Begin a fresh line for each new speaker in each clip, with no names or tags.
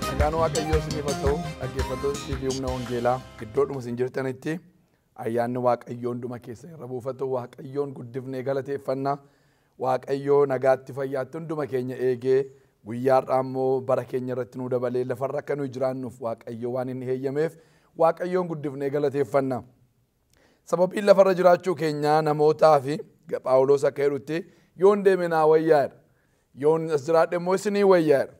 Nagaan Waaqayyoo isiniif haa ta'u dhaggeeffattoota TV Humna Wangeelaa iddoodhuma isin jirtanitti ayyaanni Waaqayyoo hunduma keessan irra buufatu Waaqayyoon guddifnee galateeffanna Waaqayyoo nagaatti fayyaatti hunduma keenya eegee guyyaa har'aa immoo bara keenya irratti nu dabalee lafarra akka nuyi jiraannuuf Waaqayyoo waan inni heeyyameef Waaqayyoon guddifnee galateeffanna. Sababiin lafarra jiraachuu keenyaa namootaafi Phaawulos akka jedhutti yoon deeme naa wayyaa jedha. Yoon as jiraadhe immoo isinii wayyaa jedha.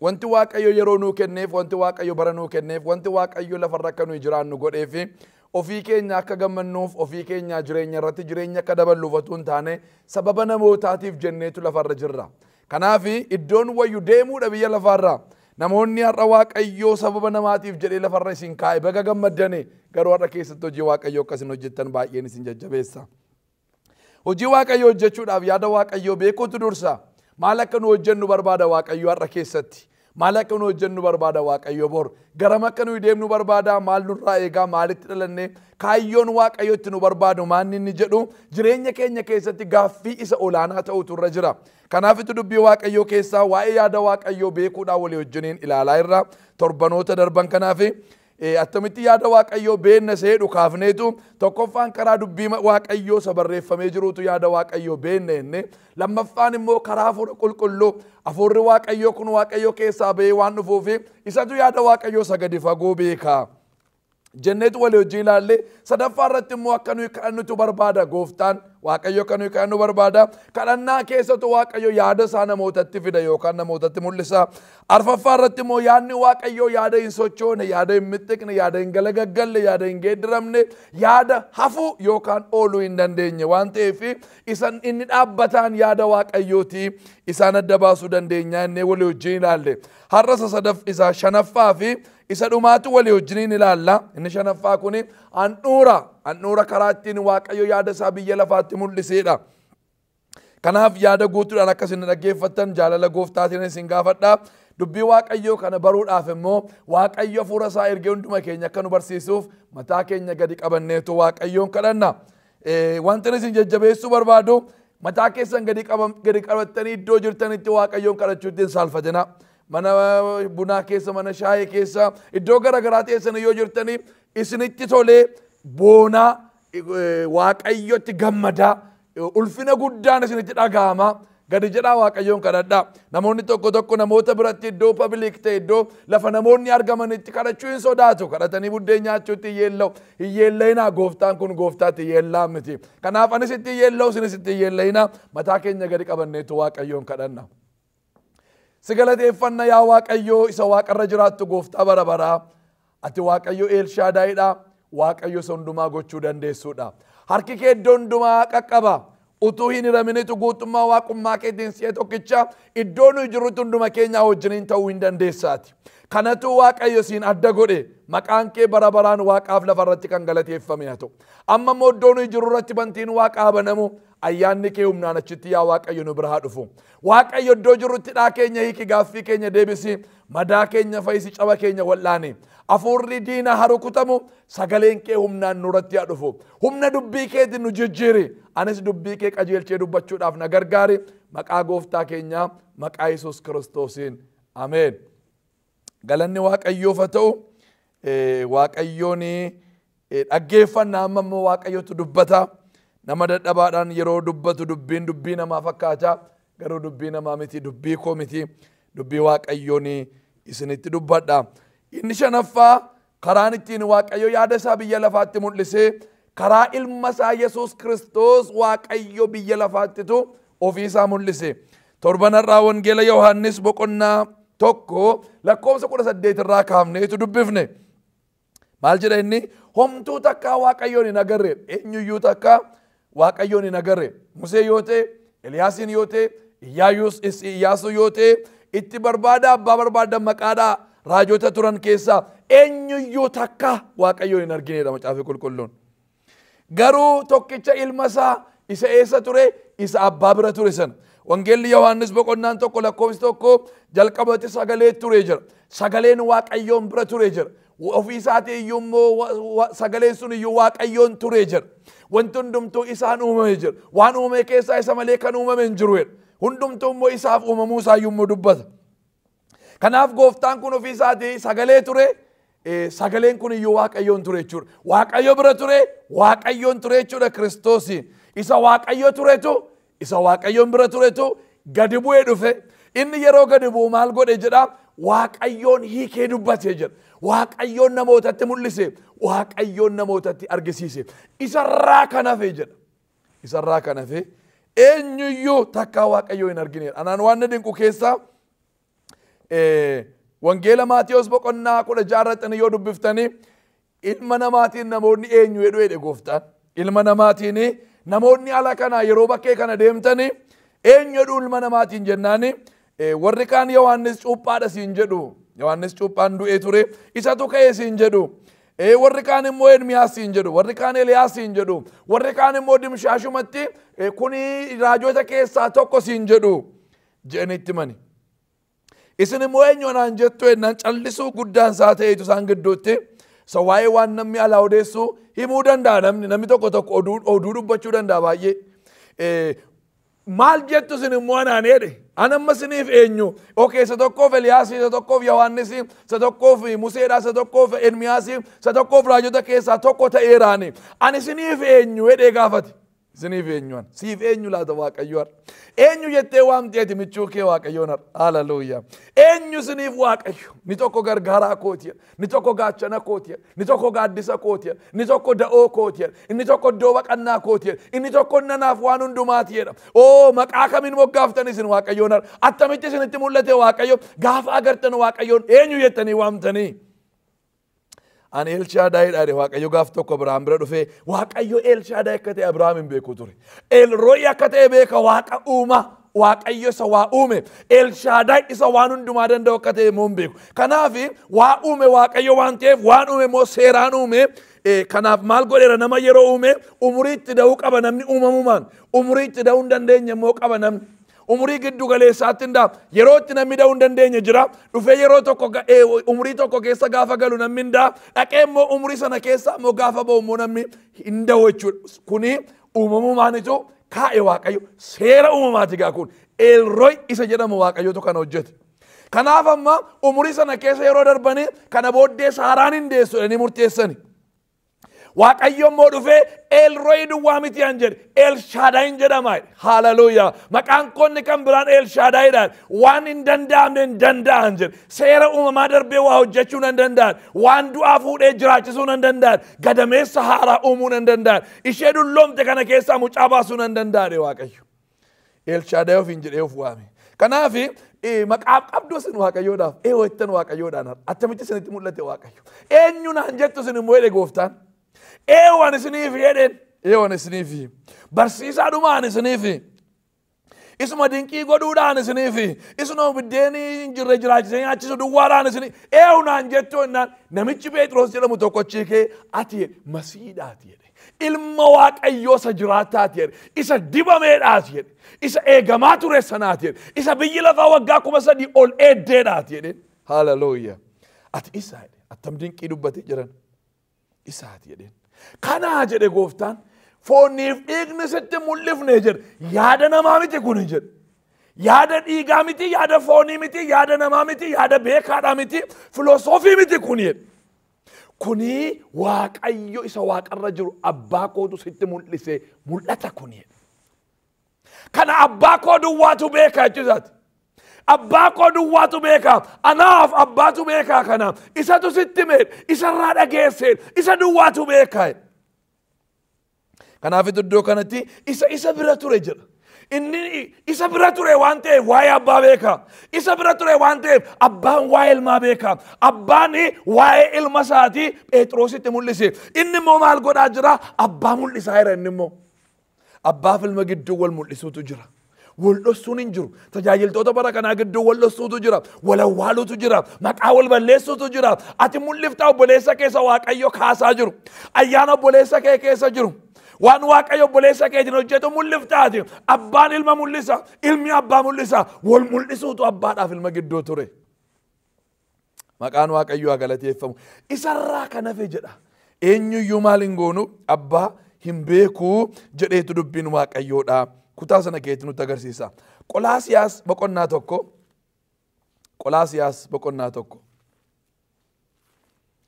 Wanti Waaqayyo yeroo nuu kenneef, wanti Waaqayyo bara nuu kenneef, wanti Waaqayyo lafarra akka nuyi jiraannu godheefi ofii keenya akka gammannuuf, ofii keenyaa jireenya irratti jireenya akka daballuuf otuu hin taane sababa namootaatiif jenneetu lafarra jirra. Kanaaf iddoon wayyu deemuudha biyya lafaarraa. Namoonni har'a Waaqayyoo sababa namaatiif jedhee lafarra isin kaa'e baga gammaddani garuu har'a keessatti hojii Waaqayyoo akka isin hojjettan baay'een isin jajjabeessa. Hojii Waaqayyoo hojjechuudhaaf yaada Waaqayyoo beekuutu dursa. Maal akka nu hojjennu barbaada Waaqayyoo har'a keessatti? Maal akka nuyi hojjennu barbaada Waaqayyo bor? Garam akka nuyi deemnu barbaada? Maal nurraa eegaa? Maalitti dhalanne? Kaayyoon Waaqayyo itti nu barbaadu maanni inni jedhu jireenya keenya keessatti gaaffii isa olaanaa ta'utu irra jira. Kanaafitu dubbii Waaqayyoo keessaa waa'ee yaada Waaqayyoo beekuudhaan walii wajjiniin ilaalaa irra torbanoota darban kanaafi Ee, attamitti yaada Waaqayyoo beenna isa jedhu kaafneetu tokkoffaan karaa dubbii ma- Waaqayyoo isa barreeffamee jiruutu yaada Waaqayyoo beenna jenne lammaffaan immoo karaa hafuura qulqulluu hafuurri Waaqayyoo kun Waaqayyoo keessaa ba'ee waan dhufuufi isatu yaada Waaqayyoo isa gadi fagoo beekaa. jenneetu walii hojii ilaalle sadaffaa irratti immoo akka nuyi kadhannutu barbaada gooftaan waaqayyo akka nuyi kadhannu barbaada kadhannaa keessatu waaqayyo yaada isaa namootatti fida yookaan namootatti mul'isa Arfaffaa irratti immoo yaadni Waaqayyoo yaada hin sochoone, yaada hin mixxiqne, yaada hin galagaggalle, yaada hin geeddiramne, yaada hafuu yookaan ooluu hin dandeenye waan ta'eef isan inni dhaabbataan yaada Waaqayyooti isaan adda baasuu dandeenya inni walii wajjin ilaalle. Har'a isa sadaf isa shanaffaa fi isa dhumaatu walii wajjiniin ilaalla. Inni shanaffaa kun handhuura. Handhuura karaa ittiin Waaqayyo yaada isaa biyya lafaatti mul'iseedha. Kanaaf yaada guutuudhaan akka isin na dhaggeeffattan jaalala gooftaatiin isin gaafadha. Dubbii Waaqayyoo kana baruudhaaf immoo Waaqayyo hafuura isaa ergee hunduma keenya akka nu barsiisuuf mataa keenya gadi qabanneetu Waaqayyoon kadhanna. Eh, Wanti isin jajjabeessuu barbaadu mataa keessan gadi qaba- gadi qabattanii iddoo jirtanitti Waaqayyoon kadhachuutti hin saalfatina. Mana bunaa keessa, mana shaayee keessa, iddoo garaagaraa teessanii yoo jirtanii isinitti tolee boonaa eh, Waaqayyotti gammadaa Ulfina guddaan isinitti dhaga'ama. Gadi jedhaa Waaqayyoon kadhadhaa. Namoonni tokko tokko namoota biratti iddoo pabilik ta'e iddoo lafa namoonni argamanitti kadhachuu hin sodaatu. Kadhatanii buddeen nyaachuutti hin yeella'u. Hin yeella'inaa gooftaan kun gooftaatti yeellaa miti. Kanaaf anis itti hin yeella'u isinis itti hin yeella'inaa mataa keenya gadi qabanneetu Waaqayyoon kadhanna. Si galateeffanna yaa Waaqayyoo isa waaqarra jiraattu gooftaa bara baraa. Ati Waaqayyo Eelshaadaayidha. Waaqayyo isa hundumaa gochuu dandeessuudha. Harki kee iddoo hundumaa qaqqaba. Utuu hin hiraminitu guutummaa waaqummaa keetiin si'a tokkicha iddoo nuyi jirrutti hunduma keenyaa wajjiniin ta'uu hin dandeessaati. Kanatu Waaqayyo siin adda godhe maqaan kee bara baraan waaqaaf lafa irratti kan galateeffame haa ta'u. Amma immoo iddoo nuyi jirru irratti bantiin waaqaa banamu ayyaanni kee humnaan achitti yaa Waaqayyo nu bira haa dhufu. Waaqayyo iddoo jirrutti hidhaa keenya hiiki gaaffii keenya deebisi madaa keenya fayyisi caba keenya wal'aani hafuurri diina haa rukutamu sagaleen kee humnaan nurratti haa dhufu humna dubbii keetiin nu jijjiiri anis dubbii kee qajeelchee dubbachuudhaaf na gargaari maqaa gooftaa keenyaa maqaa yesus kiristoosiin ameen. Galanni Waaqayyoof haa ta'u. Waaqayyoon dhaggeeffanna amma immoo Waaqayyotu dubbata. Nama dadhabaadhaan yeroo dubbatu dubbiin dubbii namaa fakkaata. Garuu dubbii namaa miti dubbii koo miti. Dubbii Waaqayyoon isinitti dubbadha. Inni shanaffaa Karaan ittiin Waaqayyo yaada isaa biyya lafaatti mul'ise karaa ilma isaa Yesuus Kiristoos Waaqayyo biyya lafaattitu ofii isaa mul'ise. Torban har'aa Wangeela Yohaannis boqonnaa tokko lakkoofsa kudha saddeet irraa kaafneetu dubbifne. Maal jedha inni? Homtuu takkaa Waaqayyoon hin agarre eenyuyyuu takkaa Waaqayyoon hin agarre. Musee yoo ta'e, Eliyaasiin yoo ta'e, Iyyaayus is- Iyyaasuu yoo ta'e, itti barbaada abbaa barbaadan maqaadhaa raajota turan keessaa eenyuyyuu takka Waaqayyoon hin argineedha macaafi qulqulluun. Garuu tokkicha ilma isaa isa eessa ture isa abbaa bira ture sana. Wangeelli Yohaannis boqonnaan tokko lakkoofsi tokko jalqabatti sagalee ture jira. Sagaleen Waaqayyoon bira ture jira. Ofii isaatii iyyuu immoo wa- wa- sagaleen sun iyyuu waaqayyoon ture jedha. Wanti hundumtuu isaan uumame jedha. Waan uumame keessaa isa malee kan uumame hin jiru jedha. Hundumtuu immoo isaaf uumamuu isaa iyyuu immoo dubbata. Kanaaf gooftaan kun ofii isaatii sagalee ture. eh, Sagaleen kun iyyuu waaqayyoon ture jechuudha. Waaqayyo bira ture, waaqayyoon ture jechuudha Kiristoos. Isa waaqayyo turetu Isa Waaqayyoon bira turetu gadi bu'ee dhufe. Inni yeroo gadi bu'u maal godhe jedha? Waaqayyoon hiikee dubbate jedha. Waaqayyoon namootatti mul'ise. Waaqayyoon namootatti argisiise. Isarraa kan hafe jedha. Isarraa kan hafe eenyuyyuu takkaa Waaqayyoo hin argineedha. Anaan waan na dinqu keessaa Wangeela Maatiyos boqonnaa kudha ja'a irratti yoo dubbiftani ilma namaatiin namoonni eenyu jedhu jedhe gooftaan. Ilma namaatiin namoonni ala kana yeroo bakkee kana deemtani eenyu jedhu ilma namaatiin jennaani warri kaan Yohaannis cuuphaadha siin jedhu. Yohaannis cuuphaan du'ee ture isatu ka'ee siin jedhu. warri kaan immoo Ermiyaas siin jedhu, warri kaan Eliyaas siin jedhu, warri kaan immoo dimshaashumatti kuni raajota keessaa tokko siin jedhu. jedhanii itti himani. Isin immoo eenyu anaan jettu ennaan callisuu guddaan isaa ta'eetu isaan gidduutti isa waa'ee waan namni alaa odeessu himuu danda'a namni namni tokko tokko oduu oduu dubbachuu danda'a baay'ee. Eh, Maal jettu isin immoo anaan jedhe ana amma isiniif eenyu okee isa tokkoof Eliyaas isa tokkoof Yohaannis isa tokkoof Museedha isa tokkoof Ermiyaas isa tokkoof raajota keessaa tokko ta'eeraani ani isiniif eenyu jedhee gaafate. Isiniif eenyuan? Siif eenyu laata Waaqayyo har'a? Eenyu jettee waamtee ati michuu kee Waaqayyoon har'a? Haleluuyaa. Eenyu isiniif Waaqayyo? Ni tokko gargaaraa kooti, ni tokko gaachana kooti, ni tokko gaaddisa kooti, ni tokko da'oo kooti, inni tokko iddoo baqannaa kooti, inni tokko nanaaf waan hundumaati jedha. Oo maqaa kamiin moggaaftan isin Waaqayyoon har'a? Attamitti isinitti mul'ate Waaqayyo? Gaafa agartan Waaqayyoon eenyu jettanii waamtanii? Ani Elshaadaay dhaadhe Waaqayyo gaaf tokko Abiraam bira dhufee Waaqayyo Elshaadaay akka ta'e Abiraam hin beeku ture. Elrooyi akka ta'e beeka Waaqa uumaa. Waaqayyo isa waa uume Elshaadaay isa waan hundumaa danda'u akka ta'e immoo hin beeku. Kanaaf waa uume Waaqayyo waan ta'eef waan uume immoo seeraan uume. Kanaaf maal godheera nama yeroo uume umurii itti da'uu qaba namni uumamumaan umurii itti da'uu hin dandeenye immoo qaba namni. Umurii giddu galeessaatti hin da'a. Yeroo itti namni da'uu hin dandeenye jira. Dhufee yeroo tokko ga- eh, umurii tokko keessa gaafa galu namni hin da'a. Dhaqee immoo umurii sana keessa immoo gaafa ba'u immoo namni hin da'u jechuudha. Kuni uumamumaanitu kaa'e waaqayyo. Seera uumamaati gaa kun. Eelroy isa jedhamu waaqayyotu kana hojjete. Kanaaf amma umurii sana keessa yeroo darbanii kana booddee saaraan hin deessu jedhanii murteessani. Waaqayyo immoo dhufee Eelrooyi duwwaa miti an jedhe Eelshaadaayin jedhama. Haaleluyyaa. Maqaan koonni kan biraan Eelshaadaayidhaan waan hin danda'amne hin danda'an jedhe. Seera uumamaa darbee waa hojjechuu nan danda'an. Waan du'aa fuudhee jiraachisuu nan danda'an. Gadameessa haaraa uumuu nan danda'an. Ishee dulloomte kana keessaa mucaa baasuu nan danda'an Waaqayyo. Elshaadaay ofiin jedhee of waame. Kanaaf maqaaf qabdu isin waaqayyoodhaaf ee ho'ettan waaqayyoodhaan har'a attamitti isinitti mul'ate waaqayyo. Eenyu naan jettu isin immoo jedhe gooftaan. Ee waan isiniif jedheen ee waan isiniif barsiisaa dhumaan isiniif. Isuma dinqii godhuudhaan isiniif isinoo biddeen hin jirre jiraachisee nyaachisu duwwaadhaan isin ee naan jettu jennaan namichi Pheexiroos jedhamu tokkochi kee ati masiidhaati jedhe. Ilma Waaqayyoo isa jiraataati jedhe. Isa dibameedhaati jedhe. Isa eegamaa ture sanaati jedhe. Isa biyyi lafaa waggaa kuma sadii ol eeddeedhaati jedhe. Haaleluyyaa. Ati isa jedhe. Attam dinqii dubbatee jiran. Isaati jedheen. Kanaa jedhe gooftaan fooniif dhiigni sitti mul'ifne jedhe. Yaada namaa miti kuni jedhe. Yaada dhiigaa miti, yaada foonii miti, yaada namaa miti, yaada beekaadhaa miti, filosoofii miti kuni jedhe. Kuni Waaqayyo isa waaqarra jiru abbaa kootu sitti mul'ise mul'ata kuni. Kana abbaa koo duwwaatu beeka jechuu isaati. Abbaa koo duwwaatu beeka. Anaaf abbaatu beeka kana. Isatu sitti mee isarraa dhageessee isa duwwaatu beeka. Kanaafitu iddoo kanatti isa isa bira ture jedha. Inni isa bira ture waan ta'eef waa'ee abbaa beeka. Isa bira ture waan ta'eef abbaan waa'ee ilmaa beeka. Abbaan waa'ee ilma isaatii Phexrositti mul'ise. Inni immoo maal godhaa jira? Abbaa mul'isaa jira inni immoo. Abbaaf ilma gidduu wal mul'isuutu jira. Wal dhossuun hin jiru. Tajaajiltoota bara kanaa gidduu wal dhossuutu jira. Wal awwaaluutu jira. Maqaa wal balleessuutu jira. Ati mul'iftaa obboleessa keessa Waaqayyo kaasaa jiru. Ayyaana obboleessa kee keessa jiru. Waan Waaqayyo obboleessa keetiin hojjetu mul'iftaati. Abbaan ilma mul'isa. Ilmi abbaa mul'isa. Wal mul'isuutu abbaadhaaf ilma gidduu ture. Maqaan Waaqayyoo haa galateeffamu. Isarraa kan hafe jedha. Eenyuyyuu maal hin goonu abbaa hin beeku jedheetu dubbiin Waaqayyoodha. Kutaa sana keetti nutti agarsiisa. Qolaasiyaas boqonnaa tokko. Qolaasiyaas boqonnaa tokko.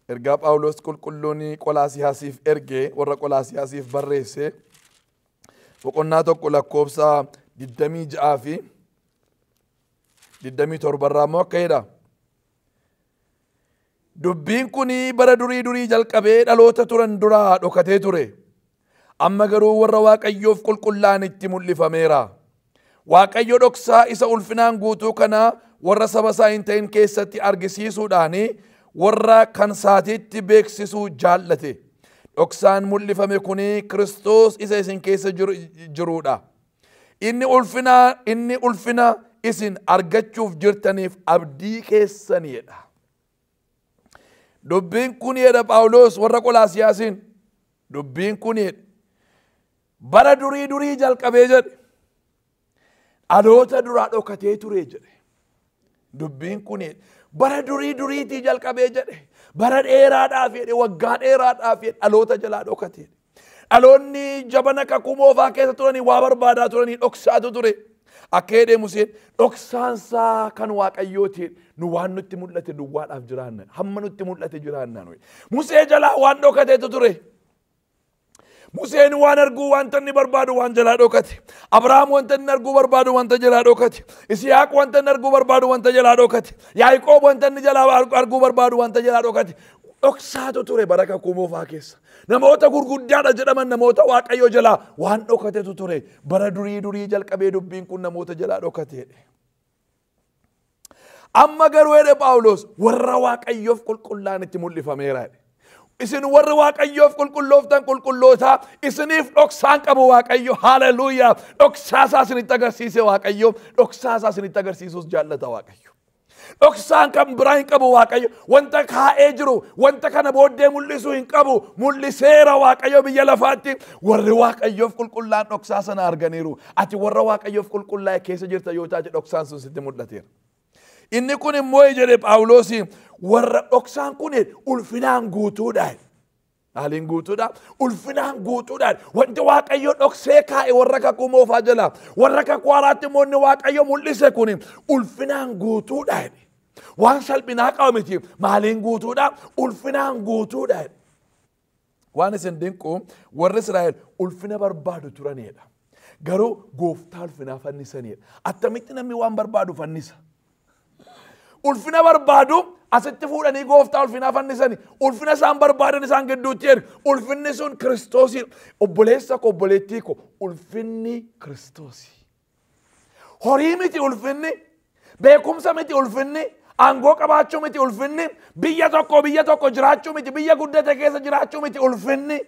Ergaa Phaawulos qulqulluun Qolaasiyaasiif ergee warra Qolaasiyaasiif barreesse boqonnaa tokko lakkoofsa 26 fi 27 irraa immoo akka jedha. Dubbiin kun bara durii durii jalqabee dhaloota turan duraa dhokatee ture. Amma garuu warra Waaqayyoof qulqullaa'an itti mul'ifameera. Waaqayyo dhoksaa isa ulfinaan guutuu kana warra saba isaa hin ta'in keessatti argisiisuudhaan warra kan isaatiitti beeksisuu jaallate. Dhoksaan mul'ifame kun Kiristoos isa isin keessa jiruudha. Inni ulfinaa inni ulfina isin argachuuf jirtaniif abdii keessaniidha. Dubbiin kun jedha Phaawulos warra Qolaasiyaasiin. Dubbiin kun jedha. Bara durii durii jalqabee jedhe. Dhaloota duraa dhokatee ture jedhe. Dubbiin kun bara durii duriitii jalqabee jedhe bara dheeraadhaaf jedhe waggaa dheeraadhaaf jedhe dhaloota jalaa dhokate. Dhaloonni jabana kakuu moofaa keessa turanii waa barbaadaa turanii dhoksaatu ture. Akka jedhee Museen dhoksaansaa kan waaqayyooti nu waan nutti mul'ate duwwaadhaaf jiraanna hamma nutti mul'ate jiraanna nuyi. Musee jalaa waan dhokateetu ture. Museen waan arguu wanta inni barbaadu waan jalaa dhokate. Abrahaam wanta inni arguu barbaadu wanta jalaa dhokate. Isiyaaq wanta inni arguu barbaadu wanta jalaa dhokate. Yaaqoob wanta inni jalaa arguu barbaadu wanta jalaa dhokate. Dhoksaatu ture bara kakuu moofaa keessa. Namoota gurguddaadha jedhaman namoota waaqayyo jalaa waan dhokatetu ture. Bara durii durii jalqabee dubbiin kun namoota jalaa dhokateedha. Amma garuu jedhe Phaawulos warra Waaqayyoof qulqullaa'an itti mul'ifameera jedhe. Isin warri Waaqayyoof qulqullooftan qulqullootaa isiniif dhoksaan qabu Waaqayyo haaleluuyaa dhoksaasaa isinitti agarsiise Waaqayyo dhoksaasaa isinitti agarsiisuus jaallata Waaqayyo. Dhoksaan kan biraa hin qabu Waaqayyo wanta kaa'ee jiru wanta kana booddee mul'isu hin qabu mul'iseera Waaqayyo biyya lafaatti warri Waaqayyoof qulqullaa'an dhoksaa sana arganiiru Ati warra Waaqayyoof qulqullaa'e keessa jirta yoo taate dhoksaan sun sitti mul'ateera. Inni kun immoo jedhe Phaawulos warra dhoksaan kun ulfinaan guutuudhaan. Haaliin guutuudha. Ulfinaan guutuudhaan wanti Waaqayyo dhoksee kaa'e warra kakuu moofaa jala. Warra kakuu haaraatti immoo inni Waaqayyo mul'ise kun ulfinaan guutuudhaan. Waan salphinaa qabu miti. Maaliin guutuudha? Ulfinaan guutuudhaan. Waan isin dinqu warri Israa'el ulfina barbaadu turanidha. Garuu gooftaa ulfinaa fannisanidha. Attamitti namni waan barbaadu fannisa? Ulfina barbaadu asitti fuudhanii gooftaa ulfinaa fannisani. Ulfina isaan barbaadan isaan gidduutti erga. Ulfinni sun Kiristoosi. Obboleessa koo obboleettii koo ulfinni Kiristoosi. Horii miti ulfinni, beekumsa miti ulfinni, aangoo qabaachuu miti ulfinni, biyya tokko biyya tokko jiraachuu miti, biyya guddate keessa jiraachuu miti ulfinni.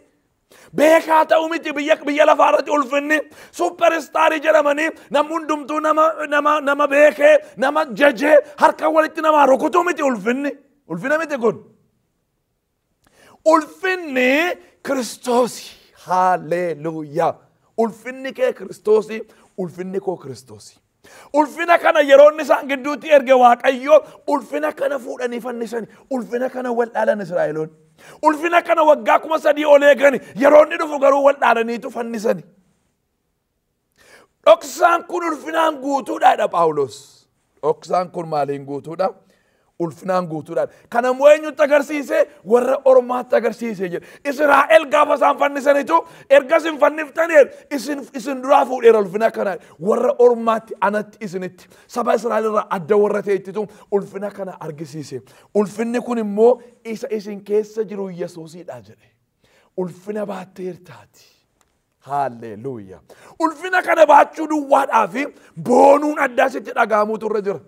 Beekaa ta'uu miti biyya biyya lafaa irratti ulfinni supperistaarii jedhamanii namni hundumtuu nama nama nama beekee nama jajee harka walitti namaa rukutuu miti ulfinni. Ulfina miti kun. Ulfinni Kiristoosi. Haalleluuyaa. Ulfinni kee Kiristoosi, ulfinni koo Kiristoosi. Ulfina kana yeroo inni isaan gidduutti erge Waaqayyo ulfina kana fuudhanii fannisani. Ulfina kana wal dhaalan Israa'eloonni. Ulfina kana waggaa kuma sadii ol eegani. Yeroo inni dhufu garuu wal dhaalaniitu fannisani. Dhoksaan kun ulfinaan guutuudha jedha Phaawulos. Dhoksaan kun maaliin guutuudha? Ulfinaan guutuudha. Kana immoo eenyutti agarsiise? Warra ormaatti agarsiise jedha. Israa'el gaafa isaan fannisanitu ergas hin fanniftanii isin isin duraa fuudheera ulfina kana warra ormaatti anatti isinitti saba Israa'el irraa adda warra ta'ettitu ulfina kana argisiise. Ulfinni kun immoo isa isin keessa jiru Yesuusidha jedhe. Ulfina baatteertaati. Haalleluuya. Ulfina kana baachuu duwwaadhaa fi boonuun addaa sitti dhaga'amuutu irra jira.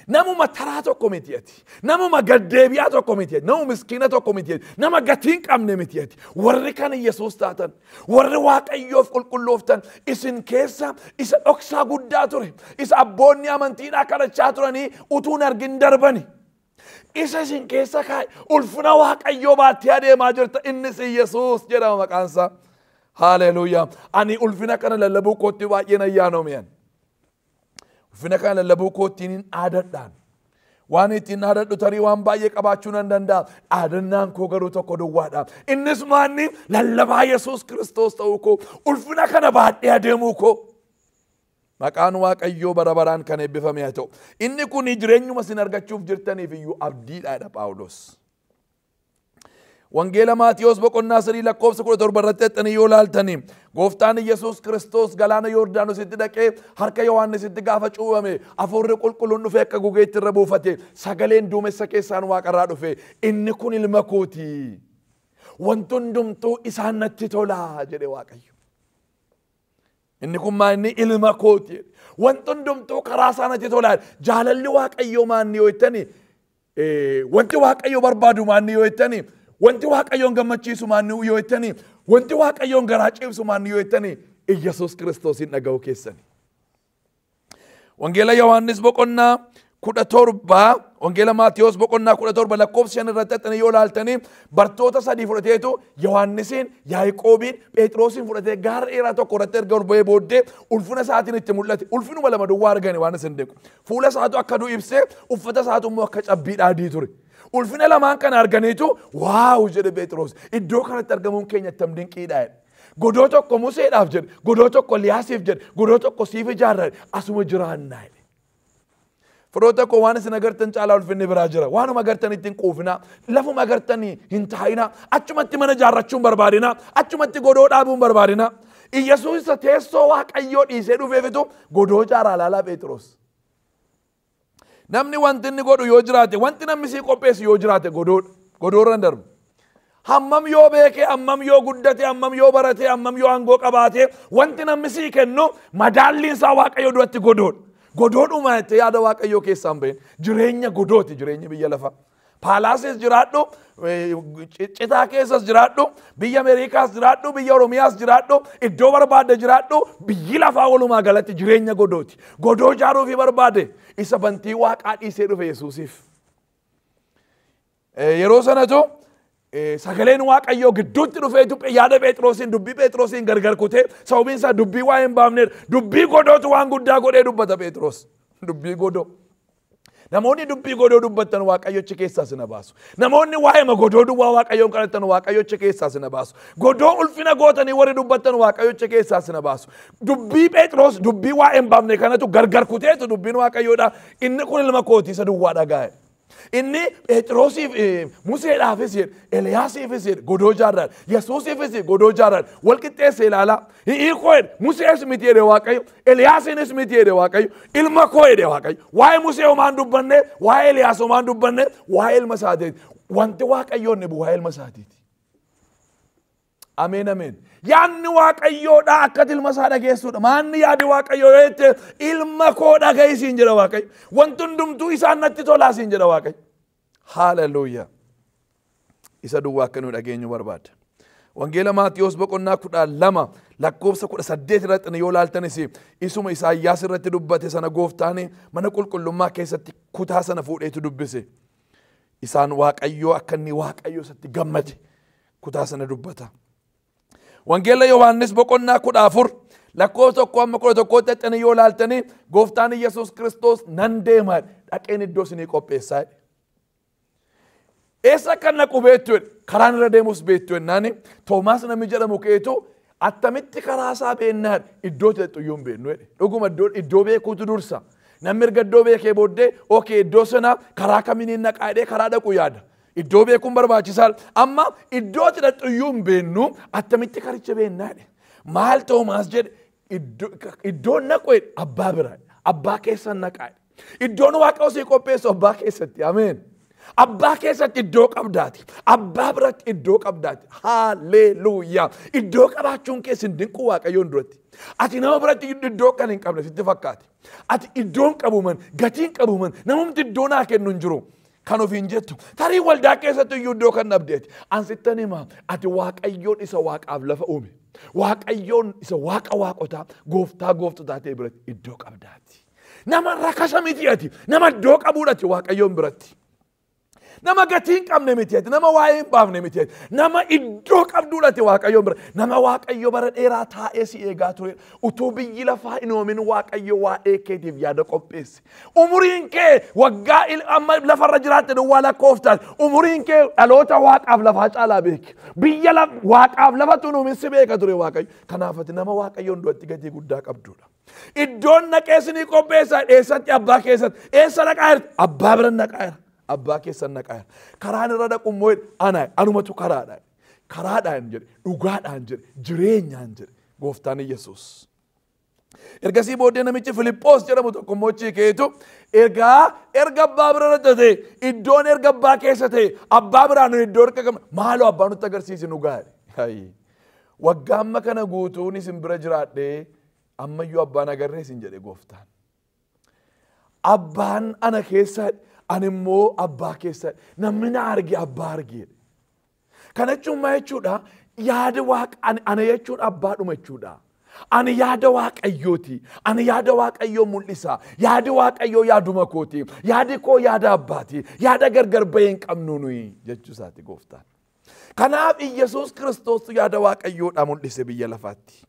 Namuma taraa tokko miti ati. Namuma gaddeebi'aa tokko miti ati. Namuma miskiina tokko miti ati. Nama gatii hin qabne miti ati. Warri kan Yesuus taatan, warri Waaqayyoof qulqullooftan isin keessa isa dhoksaa guddaa ture. Isa abboonni amantiidhaa kadhachaa turanii utuu hin argin darbani. Isa isin keessa kaa'e ulfina waaqayyoo baattee adeemaa jirta innis Yesuus jedhama maqaansaa. Haaleluuyaa. Ani ulfina kana lallabuu kootti baay'een ayyaanoomeen. Ulfina kana lallabuu koottiin hin dhaadadhaan. Waan ittiin dhaadadhu tarii waan baay'ee qabaachuu nan danda'a. Dhaadannaan koo garuu tokko duwwaadha. Innis maanni lallabaa Yesuus Kiristoos ta'uu koo ulfina kana baadhee adeemuu koo. Maqaan Waaqayyoo bara baraan kan eebbifame haa ta'u. Inni kun jireenyuma isin argachuuf jirtaniif iyyuu abdiidha jedha Phaawulos. Wangeela Maatiyoos boqonnaa sadii lakkoofsa kudha torba irratti xaxxanii yoo laaltanii gooftaan Yesuus Kiristoos galaana Yoordaanositti dhaqee harka Yohaannisitti gaafa cuubame afuurri qulqulluun dhufee akka gugeetti irra buufate sagaleen duumessa keessaan waaqarraa dhufe inni kun ilma kooti. Wanti hundumtuu isaan natti tolaa jedhe Waaqayyo. Inni kun maa inni ilma kooti jedhe. Wanti hundumtuu karaa isaa natti tola. Jaalalli Waaqayyoo maa inni yoo jettani eh, wanti Waaqayyo barbaadu maa inni yoo jettani wanti Waaqayyoon gammachiisu maa inni yoo jettani wanti Waaqayyoon garaa ciibsu maa inni yoo jettani Iyyasuus Kiristoosiin dhaga'uu keessani. Wangeela Yohaannis boqonnaa kudha torba Wangeela Maatiyos boqonnaa kudha torba lakkoofsa shan irratti haxxanii yoo laaltanii bartoota sadii fudhateetu Yohaannisiin, Yaaqoobiin, Phexroosiin fudhatee gaara dheeraa tokko irratti erga ol ba'ee booddee ulfina isaatiin itti mul'ate. Ulfinuma lama duwwaa argani waan isin deeku. Fuula isaatu akka du'u ibsee uffata isaatu immoo akka cabbii dhaadii ture. Ulfina lamaan kana arganiitu waawu jedhe Phexros iddoo kanatti argamuun keenya attam dinqiidha jedhe. Godoo tokko Museedhaaf jedhe, godoo tokko Liyaasiif jedhe, godoo tokko siif ijaarrare asuma jiraannaa jedhe. Firoota koo waan isin agartan caalaa ulfinni biraa jira. Waanuma agartanitti hin quufinaa. Lafuma agartanii hin taa'inaa. Achumatti mana ijaarrachuu hin barbaadinaa. Achumatti godoo dhaabuu hin barbaadinaa. Iyyasuus isa teessoo waaqayyoo dhiisee dhufeefitu godoo ijaaraa laalaa Pheexiroos. Namni wanti inni godhu yoo jiraate, wanti namni sii qopheessu yoo jiraate godoodha. Godoorra hin darbu. Hammam yoo beekee, hammam yoo guddate, hammam yoo barate, hammam yoo aangoo qabaate, wanti namni sii kennu madaalliin isaa Waaqayyo duratti godoodha. Godoodhuma jettee yaada Waaqayyoo keessaan bahin. Jireenya godooti jireenya biyya lafaa. Paalaasis jiraadhu, citaa keessas jiraadhu, biyya Ameerikaas jiraadhu, biyya Oromiyaas jiraadhu, iddoo barbaadde jiraadhu, biyyi lafaa walumaa galatti jireenya godooti. Godoo ijaaruufi barbaade isa bantii waaqaa dhiisee dhufe Yesuusiif. Yeroo sanatu sagaleen waaqayyoo gidduutti dhufee dubbi yaada Pheexroosiin dubbii Pheexroosiin gargar kutee sababiin isaa dubbii waa hin baafneedha. Dubbii godootu waan guddaa godhee dubbata Pheexroos. Dubbii godoo. Namoonni dubbii godoo dubbattan waaqayyochi keessaa sina baasu. Namoonni waa'eema godoo duwwaa waaqayyoon kadhattan waaqayyochi keessaa sina baasu. Godoo ulfina gootanii warri dubbattan waaqayyochi keessaa sina baasu. Dubbii Pheexroos dubbii waa'een baafne kanatu gargar kuteetu dubbiin waaqayyoodha. Inni kun ilma kootii isa duwwaa dhagaa'e. Inni Pheexroosiif eh, Museedhaafis jedhe, Eliyaasiifis jedhe, godoo jaarraadha. Yesuusiifis godoo jaarraadha. Wal qixxeesse ilaalaa. Hiikoo jedhe Musees miti jedhe Waaqayyo, Eliyaasiinis miti jedhe Waaqayyo, ilma koo jedhe Waaqayyo. Waa'ee Musee homaan dubbanne, waa'ee Eliyaas homaan dubbanne, waa'ee ilma isaatiiti. Wanti Waaqayyoon dhibu waa'ee ilma isaatiiti. Ameen ameen. Yaanni Waaqayyoodhaa akka ilma isaa dhageessuudha. Maanni yaadi Waaqayyoo yoo jette ilma koo dhaga'i siin jedha Waaqayyo. Wanti hundumtuu isaan natti tolaa siin jedha Waaqayyo. Hallelujah. Isa duwwaa akka nu dhageenyu barbaada. Wangeela Maatiyoos boqonnaa kudha lama lakkoofsa kudha saddeet irratti yoo laaltanis isuma Isaayyaas irratti dubbate sana gooftaan mana qulqullummaa keessatti kutaa sana fuudheetu dubbise. Isaan Waaqayyoo akka inni Waaqayyoo isatti gammade kutaa sana dubbata. Wangeela Yohaannis boqonnaa kudha afur lakkoofsa tokko amma kudha tokkootti haxxanii yoo laaltanii gooftaan Yesuus Kiristoos nan deema dhaqeen iddoo isinii qopheessaa. Eessa akka naqu beektu karaan irra deemus beektu jennaan Toomaas namni jedhamu keetu attamitti karaa isaa beennaan iddoo teettu iyyuu hin beeknu jedhe. Dhuguma iddoo beekuutu dursa. Namni erga iddoo beekee booddee ookee iddoo sana karaa kamiin naqaa jedhee karaa dhaqu yaada. Iddoo beekuun barbaachisaa amma iddoo itti dhaqxu iyyuu hin beennu attamitti karicha beennaa jedhe. Maal Toomaas jedhe iddoon naqu abbaa bira abbaa keessa naqaa iddoon waaqa osii qopheessu abbaa keessatti ameen. Abbaa keessatti iddoo qabdaati. Abbaa biratti iddoo qabdaati. Haalleluuyaa. Iddoo qabaachuun kee sin dinquu waaqayyoon duratti. Ati nama biratti iddoo kan hin qabne sitti fakkaate. Ati iddoon qabuman gatiin qabuman namumti iddoo naa kennu hin jiru. kan ofiin jettu tarii waldaa keessatti iyyuu iddoo kan dhabdeeti an sittan hima ati waaqayyoon isa waaqaaf lafa uume waaqayyoon isa waaqa waaqotaa gooftaa gooftotaa ta'e biratti iddoo qabdaati nama rakasa miti ati nama iddoo qabuudha ati waaqayyoon biratti nama gatii hin qabne miti ati nama waa'ee hin baafne miti ati nama iddoo qabduudha ati waaqayyoon bira nama waaqayyo bara dheeraa taa'ee si eegaa ture utuu biyyi lafaa hin uumin waaqayyo waa'ee keetiif yaada qopheesse Umuriin kee waggaa il- amma lafarra jiraatte duwwaa lakkooftaan umuriin kee dhaloota waaqaaf lafaa caalaa beeki. Biyya laf- waaqaaf lafatu nuumin si beeka ture waaqayyo. Kanaaf ati nama waaqayyoon duratti gatii guddaa qabdudha. Iddoon naqee sinii qopheessa eessatti abbaa keessatti eessa naqaa jirti abbaa bira naqaa jira abbaa keessan naqaa jira. Karaan irra dhaqu immoo jedhe, ana anumatu karaadha. Karaadhaan jedhe dhugaadhaan jedhe jireenyaan jedhe gooftaan Yesuus. Ergasii booddee namichi Filiphoos jedhamu tokko immoo achi ka'eetu egaa erga abbaa bira irra ta'e iddoon erga abbaa keessa ta'e abbaa biraa nu iddoo erga qabna maaloo abbaa nutti agarsiisi nu gaari. Waggaa amma kana guutuun isin bira jiraadhee ammayyuu abbaan agarree isin jedhe gooftaan. Abbaan ana keessa ani immoo abbaa keessa namni na arge abbaa arge. Kana jechuun maa jechuudha? Yaada waaqa ani ana jechuun abbaadhuma jechuudha. Ani yaada waaqayyooti. Ani yaada waaqayyoo mul'isa. Yaadi waaqayyoo yaaduma kooti. Yaadi koo yaada abbaati. Yaada gargar bahee hin qabnu nuyi jechuu isaati gooftaan. Kanaaf Iyyasuus Kiristoostu yaada waaqayyoodhaa mul'ise biyya lafaatti.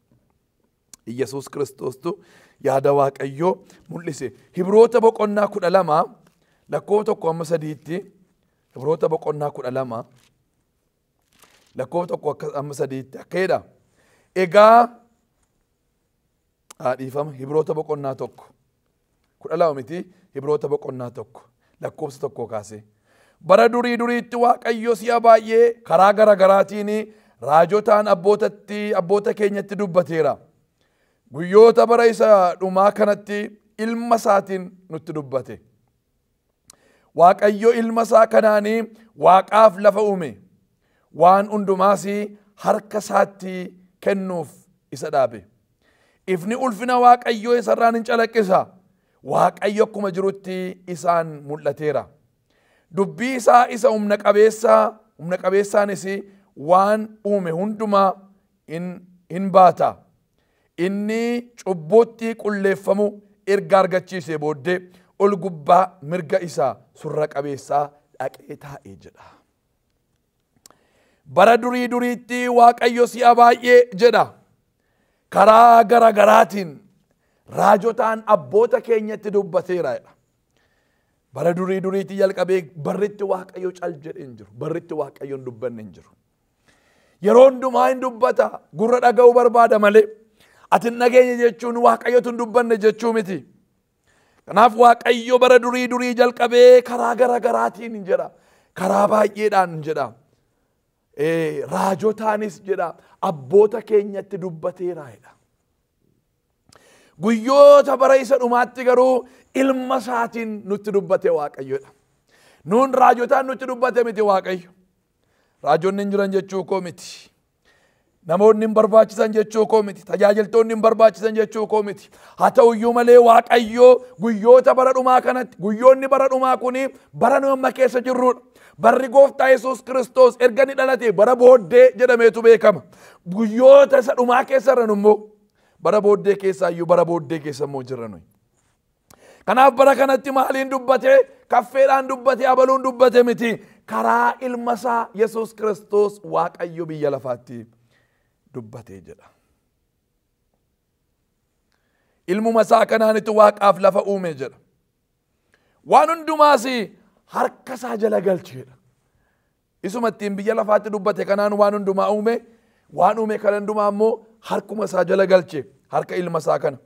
Iyyasuus Kiristoostu yaada waaqayyoo mul'ise. Hibroota boqonnaa kudha lama lakkoo tokko amma sadiitti Ibroota boqonnaa kudha lama lakkoofsa tokko akka amma sadiitti akka jedha. Egaa haa dhiifama Ibroota boqonnaa tokko kudha lama miti Ibroota boqonnaa tokko lakkoofsa tokko kaasee. Bara durii duriitti Waaqayyo si'a baay'ee karaa gara garaatiin raajotaan abbootatti abboota keenyatti dubbateera. Guyyoota bara isa dhumaa kanatti ilma isaatiin nutti dubbate. Waaqayyo ilma isaa kanaanii waaqaaf lafa uume. Waan hundumaas harka isaatti kennuuf isa dhaabe. Ifni ulfina Waaqayyoo isarraan hin calaqqisa. Waaqayyo akkuma jirutti isaan mul'ateera. Dubbii isaa isa humna qabeessaa humna qabeessaanis waan uume hundumaa hin baata. Inni cubbuuttii qulleeffamuu erga argachiisee booddee ol gubbaa mirga isa surra qabeessaa dhaqee taa'e jedha. Bara durii duriitti Waaqayyo si'a baay'ee jedha. Karaa gara garaatiin raajotaan abboota keenyatti dubbateera jedha. Bara durii duriitti jalqabee barritti Waaqayyo cal jedhee hin jiru. Barritti Waaqayyo hin dubbanne hin jiru. Yeroo hundumaa hin dubbata. Gurra dhaga'uu barbaada malee. Ati hin dhageenye jechuun waaqayyotu hin dubbanne jechuu miti. Kanaaf waaqayyo bara durii durii jalqabee karaa gara garaatiin hin jedha. Karaa baay'eedhaan hin jedha. Eh, Raajotaanis jedha. Abboota keenyatti dubbateera jedha. Guyyoota bara isa dhumaatti garuu ilma isaatiin nutti dubbate waaqayyodha. Nuun raajotaan nutti dubbate miti waaqayyo. Raajonni hin jiran jechuu koo miti. Namoonni hin barbaachisan jechuu koo miti. Tajaajiltoonni hin barbaachisan jechuu koo miti. Haa ta'u iyyuu malee Waaqayyoo guyyoota bara dhumaa kanatti guyyoonni bara dhumaa kun bara nu amma keessa jirrudha. Barri gooftaa Yesuus Kiristoos erga ni dhalate bara booddee jedhameetu beekama. Guyyoota isa dhumaa keessa irra immoo bara booddee keessaa iyyuu bara booddee keessa immoo jirra nuyi. Kanaaf bara kanatti maaliin dubbate kaffeedhaan dubbate abaluun dubbate miti karaa ilma isaa Yesuus Kiristoos Waaqayyo biyya lafaatti dubbatee jedha. Ilmuma isaa kanaanitti waaqaaf lafa uume jedha. Waan hundumaas harka isaa jala galcheedha. Isuma ittiin biyya lafaatti dubbate kanaan waan hundumaa uume, waan uume kana hundumaa immoo harkuma isaa jala galche, harka ilma isaa kana.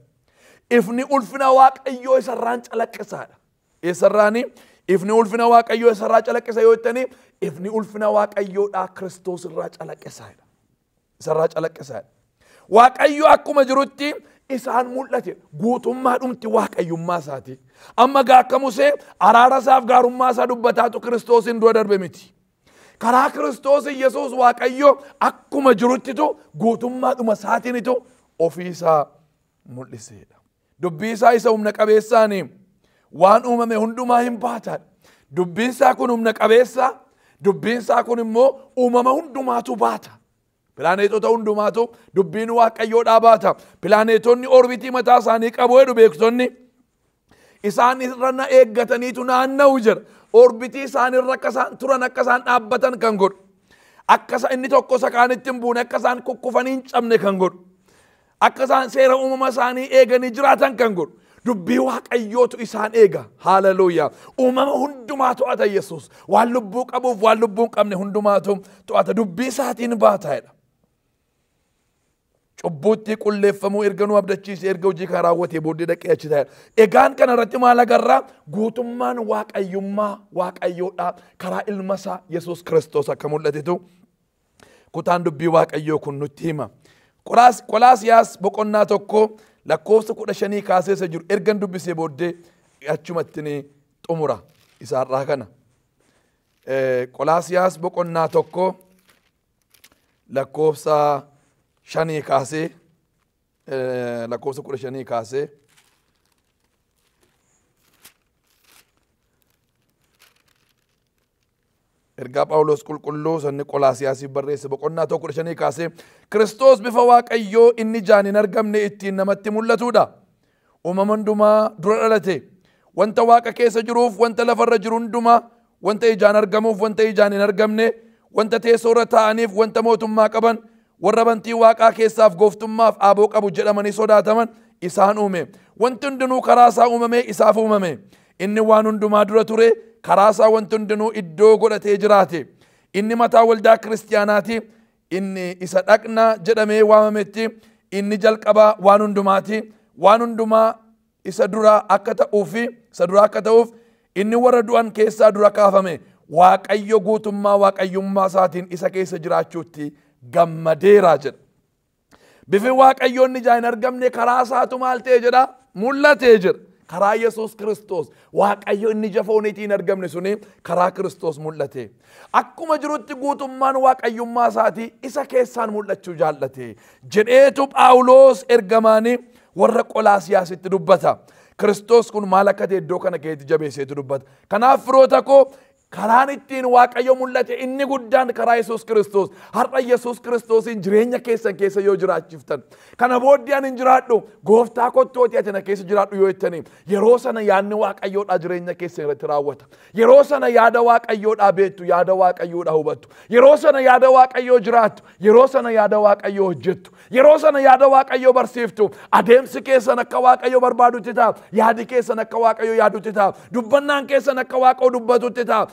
Ifni ulfina Waaqayyoo isarraan calaqqisaadha. Eessarraani? Ifni ulfina Waaqayyoo isarraa calaqqisa yoo jettanii, ifni ulfina Waaqayyoodhaa Kiristoos irraa calaqqisaadha. isarraa calaqqisaadha. Waaqayyo akkuma jirutti isaan mul'ate guutummaa dhumti waaqayyummaa isaati. Amma gaa akka Musee araara isaaf gaarummaa isaa dubbataatu Kiristoosiin dura darbe miti. Karaa Kiristoos Yesuus Waaqayyo akkuma jiruttitu guutummaa dhuma isaatiinitu ofii isaa mul'iseedha. Dubbii isaa isa humna qabeessaan waan uumame hundumaa hin baataadha. Dubbiin isaa kun humna qabeessa, dubbiin isaa kun immoo uumama hundumaatu baata. Pilaaneetota hundumaatu dubbiin waaqayyoodhaa baata. Pilaaneetonni orbitii mataa isaanii qabu jedhu beektonni. Isaan irra na eeggataniitu naanna'u jira. Orbitii isaan irra akka isaan turan akka isaan dhaabbatan kan godhu. Akka isa inni tokko isa kaanitti hin buune akka isaan kukkufanii hin cabne kan godhu. Akka isaan seera uumama isaanii eeganii jiraatan kan godhu dubbii waaqayyootu isaan eega. Haaleluyyaa. Uumama hundumaa to'ata Yesuus. Waan lubbuu qabuuf waan lubbuu hin qabne hundumaatu to'ata. Dubbii isaatiin baataa'edha. Cubbuutti qulleeffamuu erga nu abdachiise erga hojii kana raawwatee booddee dhaqee achi taa'edha. Egaan kana irratti maal agarraa? Guutummaan waaqayyummaa waaqayyoodhaa karaa ilma isaa Yesuus Kiristoos akka mul'atetu kutaan dubbii waaqayyoo kun nutti hima. Qolaas- Qolaasiyaas boqonnaa tokko lakkoofsa kudha shanii kaasee isa jiru ergan dubbisee booddee achumatti ni xumura isaarraa kana. Eh, Qolaasiyaas boqonnaa tokko lakkoofsa shanii kaasee eh, lakkoofsa kudha shanii kaasee Ergaa Phaawulos qulqulluu sanni Qolaasiyaasiif barreesse boqonnaa tokko kudha shanii kaasee Kiristoos bifa Waaqayyoo inni ijaan hin argamne ittiin namatti mul'atuudha. Uumama hundumaa dura dhalate. Wanta Waaqa keessa jiruuf wanta lafarra jiru hundumaa wanta ijaan argamuuf wanta ijaan hin argamne wanta teessoo irra taa'aniif wanta mootummaa qaban Warra bantii Waaqaa keessaaf gooftummaaf aaboo qabu jedhamanii sodaataman isaan uume. Wanti hundinuu karaa isaa uumamee isaaf uumame. Inni waan hundumaa dura ture, karaa isaa wanti hundinuu iddoo godhatee jiraate. Inni mataa waldaa kiristiyaanaati, inni isa dhaqna jedhamee waamametti, inni jalqabaa waan hundumaati, waan hundumaa isa duraa akka ta'uu fi isa duraa akka ta'uuf inni warra du'an keessaa dura kaafame waaqayyo guutummaa waaqayyummaa isaatiin isa keessa jiraachuutti gammadeera jedha. Bifi waaqayyoon ijaa hin argamne karaa isaatu maal ta'e jedha mul'ate jedha. Karaa Yesuus Kiristoos waaqayyo inni ija fooniitii hin argamne suni karaa Kiristoos mul'ate. Akkuma jirutti guutummaan waaqayyummaa isaatii isa keessaan mul'achuu jaallate jedheetu Phaawulos ergamaanii warra Qolaasiyaasitti dubbata. Kiristoos kun maal akka ta'e iddoo kana keessatti jabeesseetu dubbata. Kanaaf firoota koo karaan ittiin waaqayyo mul'ate inni guddaan karaa Yesuus Kiristoos har'a Yesuus Kiristoosiin jireenya keessan keessa yoo jiraachiftan kana booddee ani hin jiraadhu gooftaa kottooti ati na keessa jiraadhu yoo jettaniif Yeroo sana yaadni waaqayyoodhaa jireenya keessan irratti raawwata. Yeroo sana yaada waaqayyoodhaa beektu, yaada waaqayyoodhaa hubattu. Yeroo sana yaada waaqayyoo jiraattu, yeroo sana yaada waaqayyoo hojjettu. Yeroo sana yaada waaqayyoo barsiiftu. Adeemsi keessan akka waaqayyo barbaadutti ta'a. Yaadi keessan akka waaqayyo yaadutti ta'a. Dubbannaan keessan akka waaqayyo dubbatutti ta'a.